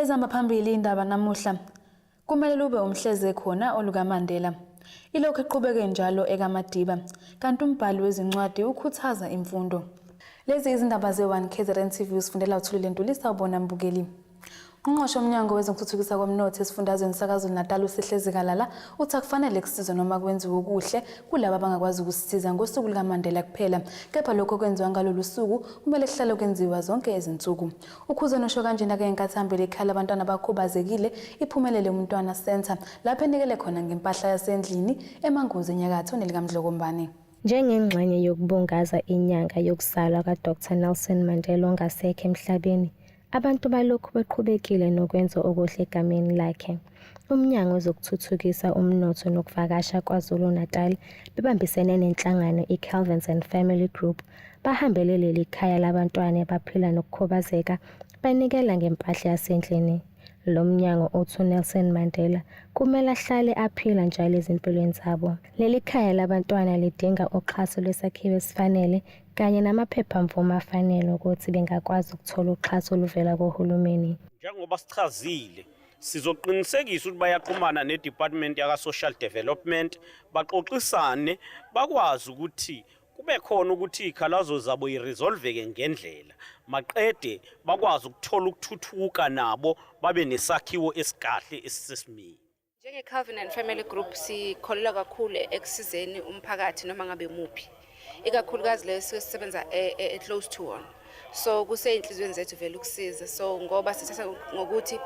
Ezihamba phambili indaba namuhla kumele lube umhleze khona olukaMandela. Ilokhu iqhubeke njalo ekaMadiba, kanti umbhali wezincwadi ukhuthaza imfundo. Lezi izindaba ze-1 KZN TV usifundela uthulile Ntulisa ubona mbukeli. Ungqosha omnyango wezokuthuthukisa komnotho esifundazweni saKwaZulu-Natal uSihle Zikalala uthi akufanele kusizwe noma kwenziwe okuhle kulabo abangakwazi ukusisiza ngosuku lukaMandela kuphela kepha lokho kwenziwa ngalolu suku kumele kuhlale kwenziwa zonke izinsuku. UKhuzeni usho kanjena ke ngenkathi hambele ikhaya labantwana abakhubazekile iphumelele umntwana Centre lapho enikele khona ngempahla yasendlini eManguzi enyakatho nelikamdlokombane. Njengengxenye yokubungaza inyanga yokuzalwa kaDr Nelson Mandela ongasekho emhlabeni, Abantu balokhu beqhubekile nokwenza okuhle egameni lakhe. UMnyango wezokuThuthukisa uMnotho nokuVakasha KwaZulu-Natal bebambisene nenhlangano iCalvins and Family Group bahambele leli khaya labantwana abaphila nokukhubazeka banikela ngempahla yasendlini. Lo mnyango uthi uNelson Mandela kumele ahlale aphila njalo ezimpilweni zabo. Leli khaya labantwana lidinga uxhaso lwesakhiwo esifanele kanye namaphephamvume afanele ukuthi bengakwazi ukuthola uxhaso oluvela kohulumeni. Njengoba sichazile, sizoqinisekisa ukuthi bayaxhumana neDepartment yaka-Social Development baxoxisane bakwazi ukuthi kube khona ukuthi izikhalazo zabo iresolveke ngendlela maqede bakwazi ukuthola ukuthuthuka nabo babe nesakhiwo esikahle esisesimeni Njenge-Covenant Family Group sikholelwa kakhulu ekusizeni umphakathi noma ngabe muphi ikakhulukazi leyo sike sisebenza e, e, e-close to one so kuseyinhliziyweni zethu vele ukusiza so ngoba sithatha ngokuthi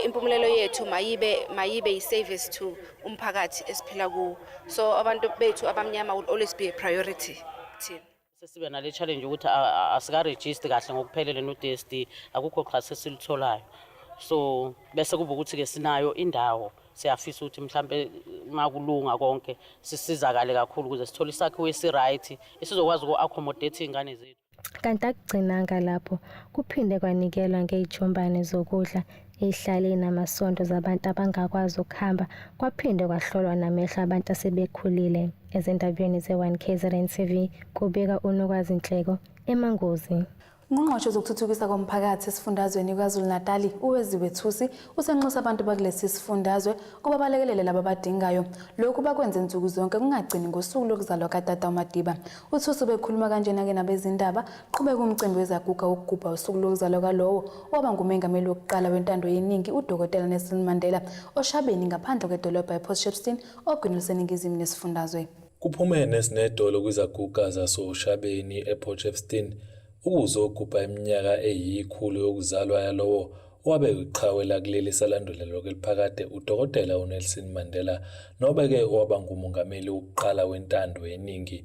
impumelelo yethu mayibe mayibe yi-service to umphakathi esiphila kuwo so abantu bethu abamnyama will always be a priority thina sesibe nale challenge ukuthi asikaregister kahle ngokuphelele no DSD akukho xhase silitholayo so bese kuba ukuthi ke sinayo indawo siyafisa ukuthi mhlambe makulunga konke sisizakale kakhulu ukuze sithole isakhiwo esiright esizokwazi uku-accommodate iy'ngane zethu kanti akugcinanga lapho kuphinde kwanikelwa ngey'jumbane zokudla Ihlale inamasondo zabantu abangakwazi ukuhamba kwaphinde kwahlolwa namehlo abantu asebekhulile ezindabeni ze-1 KZN TV kubika uNokwazi Nhleko eMangozi. Ungqongqoshe wezokuthuthukisa komphakathi esifundazweni KwaZulu-Natali uWeziwe Thusi usenxusa abantu bakulesi sifundazwe ukuba balekelele laba abadingayo. Lokhu bakwenze nsuku zonke kungagcini ngosuku lokuzalwa kadada uMadiba. UThusi ubekhuluma kanjena-ke nabezindaba Qhubeka umcimbi wezaguga wokugubha usuku lokuzalwa kwalowo owaba ngumengameli wokuqala wentando yeningi uDokotela Nelson Mandela oShabeni ngaphandle kwedolobha ePort Shepstone ogwini luseningizimu nesifundazwe. Kuphume nesinedolo kwizaguga zasoShabeni ePort Shepstone ukuzogubha iminyaka eyikhulu yokuzalwa yalowo owabe yiqhawe lakuleli salandulela lokhu eliphakade uDokotela uNelson Mandela nobeke owaba ngumongameli wokuqala wentando yeningi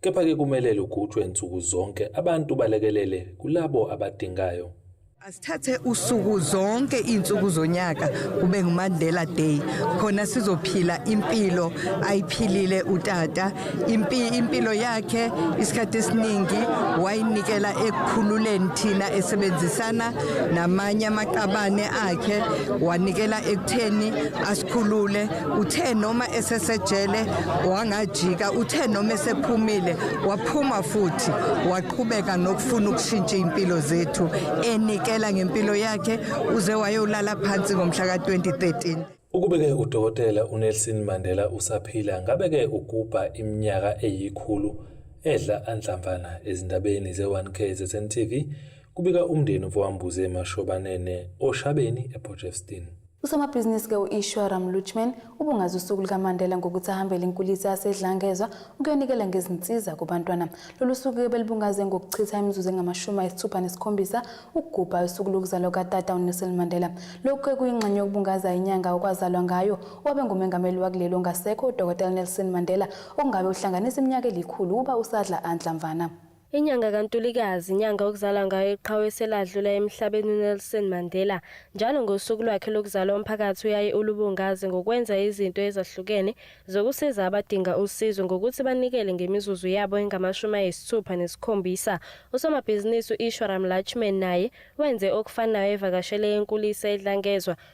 Kepha-ke kumele lugujwe nsuku zonke, abantu balekelele kulabo abadingayo. Asithathe usuku zonke izinsuku zonyaka kube nguMandela Day khona sizophila impilo ayiphilile utata impilo yakhe isikhathi esiningi wayinikela ekukhululeni thina esebenzisana namanye amaqabane akhe wanikela ekutheni asikhulule Uthe noma esesejele wangajika, uthe noma esephumile waphuma futhi waqhubeka nokufuna ukushintsha impilo zethu enikela ngempilo yakhe uze wayolala phansi ngomhla ka-2013. Ukube-ke uDokotela uNelson Mandela usaphila ngabe-ke ugubha iminyaka eyikhulu edla anhlamvana ezindabeni ze-1 KZN TV, kubika umndeni uVowambuze Mashobanene oShabeni ePortshepstone. Usomabhizinisi-ke u-Ishwara Mlutchman ubungaza usuku lukaMandela ngokuthi ahambele inkulisa yaseDlangezwa ukuyonikela ngezinsiza kubantwana. Lolu suku-ke belibungaze ngokuchitha imizuzu engamashumi ayisithupha nesikhombisa ukugubha usuku lokuzalwa kukatata uNelson Mandela. Lokhu-ke kuyingxenye yokubungaza inyanga okwazalwa ngayo owabe ngumengameli wakuleli ongasekho uDokotela Nelson Mandela okungabe uhlanganisa iminyaka elikhulu uba usadla anhlamvana. Inyanga kaNtulikazi, inyanga okuzalwa ngayo iqhawe seladlula emhlabeni uNelson Mandela. Njalo ngosuku lwakhe lokuzalwa umphakathi uyaye ulubungaze ngokwenza izinto ezahlukene zokusiza abadinga usizo ngokuthi banikele ngemizuzu yabo engamashumi ayisithupha nesikhombisa. Usomabhizinisi u-Ishwaram Lachman naye wenze okufanayo evakashele enkulisa edlangezwa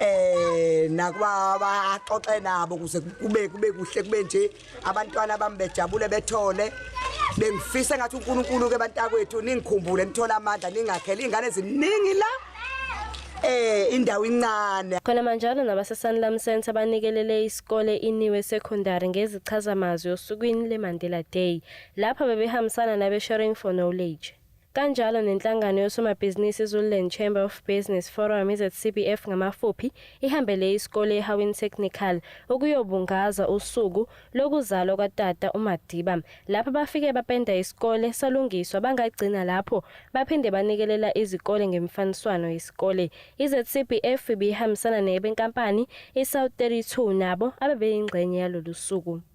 eh nakuba baxoxe nabo kuze kube kube kuhle kube nje abantwana bami bejabule bethole bengifisa ngathi uNkulunkulu ke bantakwethu ningikhumbule nithola amandla ningakhele ingane ziningi la eh indawo incane khona manjalo nabaseSanlam Center banikelele isikole iniwe secondary ngezichazamazwi osukwini leMandela Day lapha bebehambisana nabe Sharing for Knowledge Kanjalo nenhlangano yosomabhizinisi iZululand Chamber of Business Forum, iZCBF ngamafuphi, ihambele isikole eHawini Technical ukuyobungaza usuku lokuzalwa kwatata uMadiba. Lapha bafike bapenda isikole salungiswa bangagcina lapho baphinde banikelela izikole ngemifaniswano yesikole. IZCBF ibihambisana nebenkampani iSouth 32 nabo abebeyingxenye yalolu suku.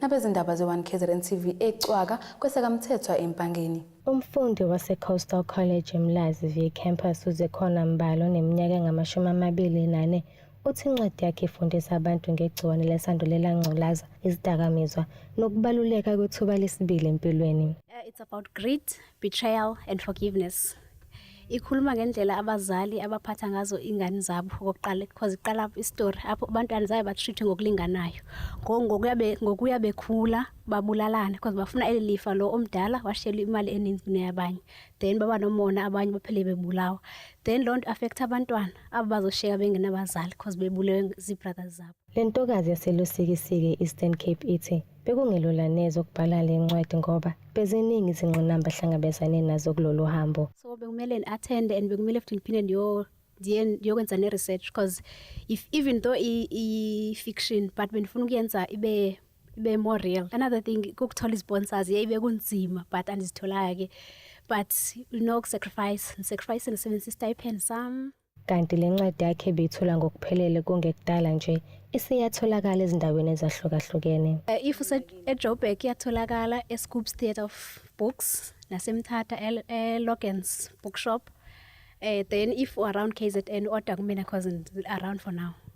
nabezindaba ze-1 kzn tv ecwaka kwesekamthethwa empangeni Umfundi wase-Coastal College eMlazi V Campus uZekhona Mbali oneminyaka engamashumi amabili nane uthi incwadi yakhe ifundisa abantu ngegciwane lesandulela ngculaza, izidakamizwa nokubaluleka kwethuba lesibili empilweni. Uh, it's about grit, Betrayal and forgiveness. Ikhuluma ngendlela abazali abaphatha ngazo ingane zabo kokuqala because iqala istory apho abantwana zabe batreatwe ngokulinganayo. Ngokuya be ngokuya bekhula babulalana because bafuna eli lifa lo omdala washela imali eningi kuneyabanye. Then baba nomona abanye baphele bebulawa. Then loo nto affect abantwana abazoshiyeka bengenabazali because bebulewe zii-brothers zabo. Le ntokazi yaseLusikisiki e-Eastern Cape ithi bekungelula neze ukubhala le ncwadi ngoba beziningi izingqinamba ahlangabezane nazo kulolu hambo. So bekumele ni-athende and bekumele futhi niphinde ndiyo ndiyokwenza ne-research because if even though i-fiction but bendifuna ukuyenza ibe ibe more real another thing kukuthola izisponsors yeyi bekunzima but andizitholanga-ke but unokusacrifice ndisacrifice ndisebenzisa istipend sami Kanti le ncwadi yakhe beyithola ngokuphelele kungekudala nje isiyatholakala ezindaweni ezahlukahlukene. Eh, if useJoburg iyatholakala eScoops Theatre of Books naseMthatha eLogans eh, Bookshop. Eh, then if u-around KZN order kumina cause around for now.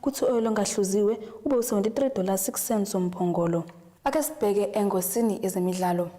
kuthi u-oyili ongahluziwe ube u-73 dollars 6 cents womphongolo. Ake sibheke engosini yezemidlalo.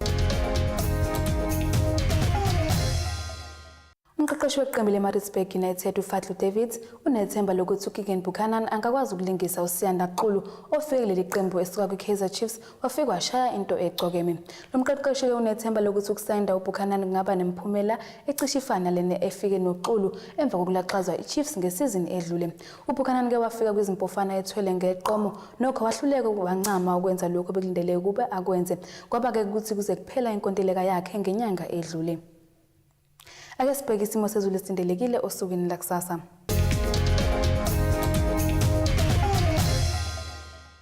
Umqeqeshi weqembu leMaritzburg United uFadlu Davids unethemba lokuthi uKeagan Buchanan angakwazi ukulingisa uSiyanda Xulu ofike kuleli qembu esuka kwiKaizer Chiefs wafika washaya into ecokeme. Lo mqeqeshi-ke unethemba lokuthi ukusayinda uBuchanan kungaba nemiphumela ecishe ifana lena efike noXulu emva kokulaxazwa iChiefs ngesizini edlule. UBuchanan uke wafika kwizimpofana ethwele ngeqomo nokho wahluleka wancama ukwenza lokho bekulindele ukube akwenze kwaba-ke ukuthi kuze kuphela inkontileka yakhe ngenyanga edlule ake sibheke isimo sezulu esilindelekile osukwini lakusasa